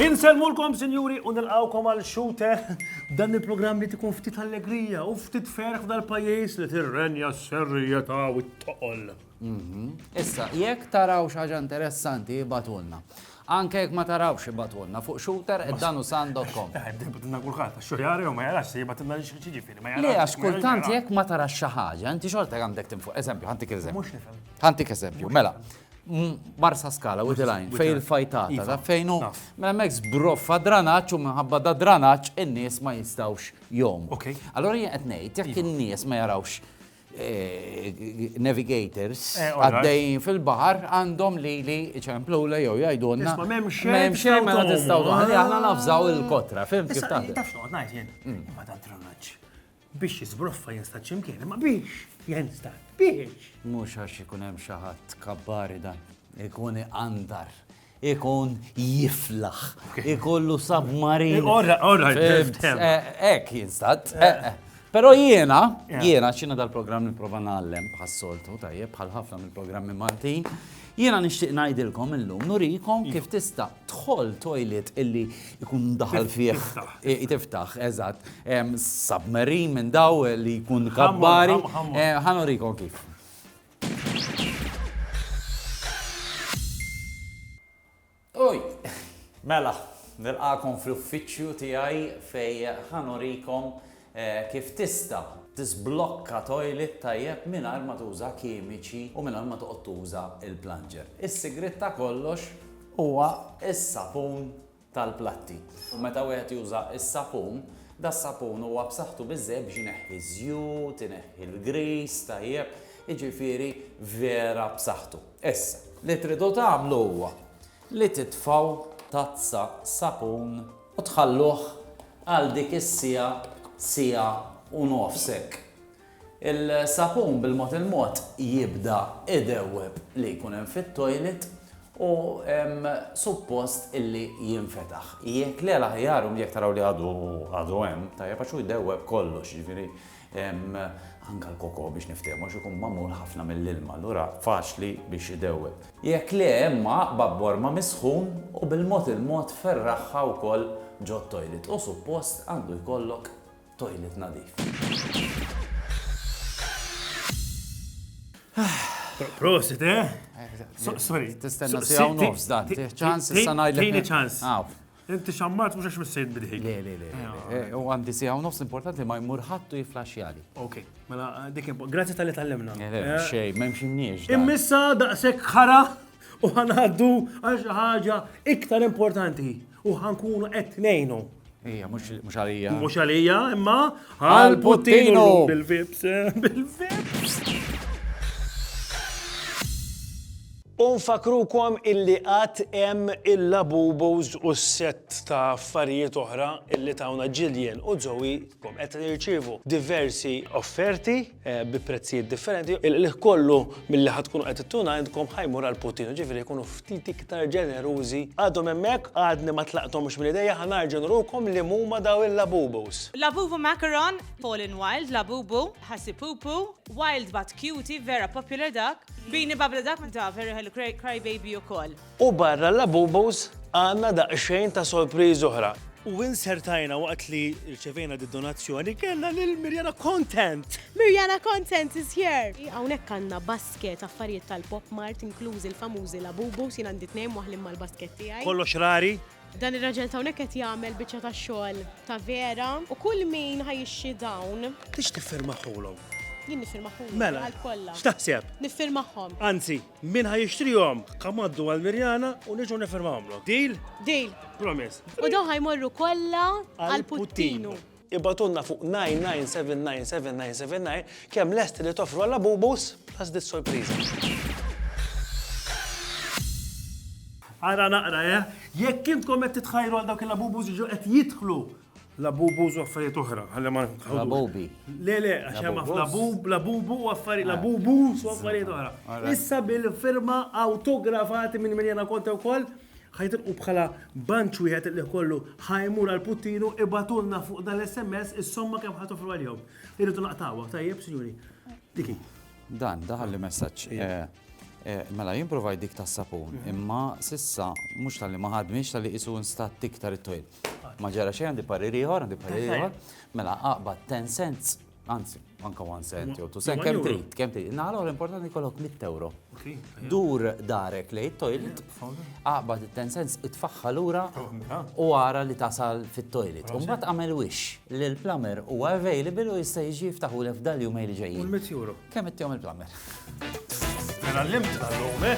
Inselmulkom, sinjuri, u nilqawkom għal xute dan il-programm li tkun ftit allegrija u ftit ferħ dal-pajis li tirrenja s-serjeta u t-toqol. Issa, jekk taraw xi ħaġa interessanti ibatulna. Anke jekk ma tarawx ibatulna fuq shooter at danusan.com. Ibatilna kulħadd, għax xorjari u ma jarax se jibatilna li xi ġifieri. Le għax kultant jekk ma tarax xi ħaġa, inti xorta għandek tinfuq. Eżempju, ħantik eżempju. Mhux nifhem. Ħantik eżempju, mela. Barsa skala, u dilajn, fejn il-fajtata, ta' fejnu, mela mekk zbroffa dranaċ u minħabba da dranaċ in-nies ma jistawx jom. Allora jien qed ngħid, jekk in-nies ma jarawx navigators għaddejjin fil-baħar għandhom li li ċemplula jew jgħidulna. Ma m'hemm xejn. M'hemm xejn ma tistgħu għalli aħna nafżaw il-kotra, fim kif ta' Taf x'noqgħod ngħid jien? Hmm. Ma ta' dranaġġ. Biex jiżbroffa jinstad x'imkien, ma biex jinstad. Biex. Mhux għax ikun hemm xi ħadd kabbari dan. Ikun għandar. Ikun jiflaħ. Ikollu submarin. Orra, orra, Ek, jinstat. Pero jiena, jiena, xina dal-program niprofa nallem bħas-soltu, tajjeb, bħal ħafna mill-programmi Maltin. Jiena nixtieq ngħidilkom illum nurikom iva. kif tista' tħol toilet illi jkun daħal fih tiftaħ, eżatt, submarine minn daw li jkun kabbari. Eh, ħanurikom kif. Uj! Mela, nilqakom fl-uffiċċju tiegħi fej ħa nurikom kif tista' tiżblokka toilet tajjeb mingħajr ma tuża kimiċi u mingħajr ma toqgħod tuża l-plunger. Is-sigriet ta' kollox huwa s-sapun tal-platti. Meta wieħed juża s-sapun, das-sapun huwa b'saħħtu biżżejjed biex ineħħi ż-żjut, ineħħi l-grease, tajjeb, jiġifieri vera b'saħħtu. Issa, li tridu tagħmlu huwa li titfgħu tazza sapun u tħalluh għal dik is-siegħa, siegħa u nofs hekk. Il-sapun bil-mod il-mod jibda idewweb li jkun hemm fit-toilet u hemm suppost illi jinfetaħ. Jekk le l-aħjar u jekk taraw li għadu għadu hemm, tajjeb għax hu jdewweb kollox, jiġifieri anke l-koko biex niftehmu għax ikun magħmul ħafna mill-ilma allura faċli biex idewweb. Jekk le imma aqbad b'orma mis-sħun u bil-mod il-mod ferraħha wkoll ġot-toilet u suppost għandu jkollok Toilet nadif. Prosit, eh? Sorry. Tistenna si għaw nofs dan, ċans, issa najdlek. Tini ċans. Inti xammat mux għax missejt bidħi. Le, le, le. Eh, u għandi si għaw nofs importanti ma jmur ħattu jiflaxjali. Ok, mela dik impo. Grazie tal-li tal-lemna. Eh, eh, xej, memx imniex. Immissa daqsek ħara u għanaddu għax ħaġa iktar importanti. U ħankunu qed ngħinu. Ija, mhux għalija. Mhux għalija, imma għal Puttinu bil-vips, bil-vips. Unfakrukom illi għat hemm il-labubos u s-set ta' affarijiet oħra illi tawna ġiljen u zowi kom qed nirċivu diversi offerti bi prezzijiet differenti, il-qliħ kollu milli ħad tkunu qed ittuna għandkom ħajmur għal Putin, ġifieri jkunu ftit iktar ġenerużi. Għadhom hemmhekk, għadni ma tlaqthomx mill-idejja, ħa narġa' nurukom li huma daw il-Labubus. Labubu Macaron, Paul in Wild, Labubu, Ħassipupu, Wild but Cutie, vera popular dak. Beanie Bubble dak ta' Very Hello Crybaby ukoll. U barra l-Labubus għandna daqsxejn ta' sorpriżi oħra. U insertajna waqt li rċevejna d-donazzjoni kellna lil Mirjana Content! Mirjana Content is here! Hawnhekk għandna basket affarijiet tal-Pop Mart inklużi l-famużi Labubus, jien għandi tnejn waħlin mal-basket tiegħi. Kollox rari! Dan ir-raġel t'hawnhekk qed jagħmel biċċa ta' xogħol ta' vera u kull min ħa jixtri dawn. Tix tiffirmahulhom? Jien niffirmahulhom. Mela. Għall-kollha. X'taħseb? Niffirmahom. Anzi. Min ħa jixtrihom? Come għaddu għal Mirjana u niġu nifirmawhomlok. Deal? Deal. Promise. U dawn ħa jmorru kollha għal Puttinu. Ibgħatulna fuq 9979799 kemm lesti li toffru għal Labubus plus dit sorpriża. Ara naqra, eh? Jekk intkom qed titħajru għal dawk il-Labubus jiġu qed jidħlu Labubu u affarijiet oħra, ħalli ma nħawdu. Labubi. Le, le, għax hemm Labubus. labub, labubu u affarijiet, labubu u affarijiet oħra. Alright. Issa bil-firma autografati minn Mirjana Conte wkoll, ħajtilqu bħala banċ wieħed li kollu ħajmur għal Puttinu ibatulna fuq dan l-SMS is-somma kemm ħatofru għalihom. Irridu naqtawha, tajjeb, sinjuri. Diki. Dan, daħal li messaġġ. eh, eh, Mela, jimprovajt dik tas sapun, imma sissa mhux tal-li ma ħadmix tal-li qisu nstat iktar it-twil. Ma ġara xejn għandi parir ieħor, għandi parir ieħor. Mela aqbad 10 cents, anzi, anka 1 cent jew 2 cent, kemm trid, kemm trid. Naħla għal importanti kollok 100 euro. Dur darek li toilet, aqbad 10 cents, itfaħħa lura u ara li tasal fit-toilet. U mbagħad għamel wix li l-plumber huwa available u jista' jiġi jiftaħu lef dal-jumejn li ġejjin. Kemm ittihom il-plumber? Mela l-limt tal-lum, eh?